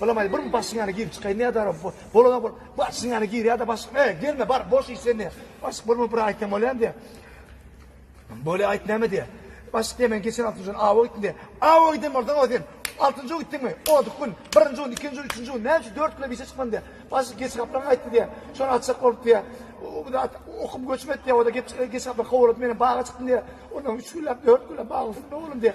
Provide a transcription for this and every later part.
Balabaý bir başyň ýana girip çykaýyn nädä bar bolada bol başyň ýana gir ýada başyk e gelme bar boş iş sen ne başyk bolma bir aýtsam bolýan diýä Bolýa aýt näme diýä başyk diýä men geçen altynjy gün awa gitdim diýä awa giden bolsaň o sen altynjy gün gitdiňmi odyk gün birinji gün ikinji gün üçünji gün näme üçin dört güne işe çykmadym diýä başyk geç gaplaň aýtdy diýä şony açjak bolup diýä okup göçmedi diýä oda geç geç gaplaň kowalady meni baga çykdym diýä ondan üç günläp dört günläp bag üstünde oglum diýä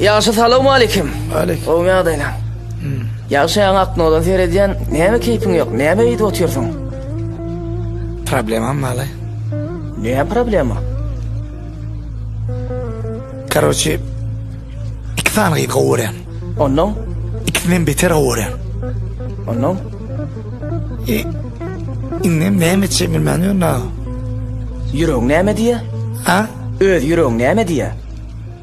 Ýagşy salawmaleýkim. Aleýk. Gowymy ýagdaýlaň? Hmm. Ýagşy ýaňy aknodan seredýän, näme keýpiň ýok, näme eýdip otyrsyň? Problemam bala. Näme problema? Karoçi, iki sany gyz gowy görýän. Ondan? Ikisinden beter gowy görýän. Ondan? E, indi näme etjek bilmän ýörün ha. Ýüregiň näme diýýär? Ha? Öz ýüregiň näme diýýär?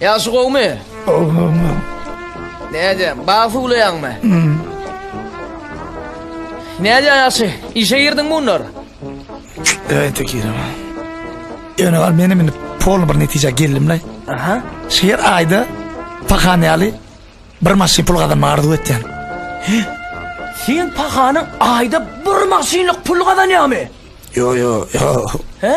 Ýagşy gowmy? Gowy gowy. Näde, bag suwlaýaňmy? Hmm. Näde ýagşy, işe girdiň munlar? Öýte girdim. Ýöne gal menem indi polny bir netijä geldim la. Aha. Şu ýer aýda pahan ýaly bir maşyn pul gazanma arzuw etýän. Sen pahanyň aýda bir maşynlyk pul gazanýamy? Yo yo yo. He?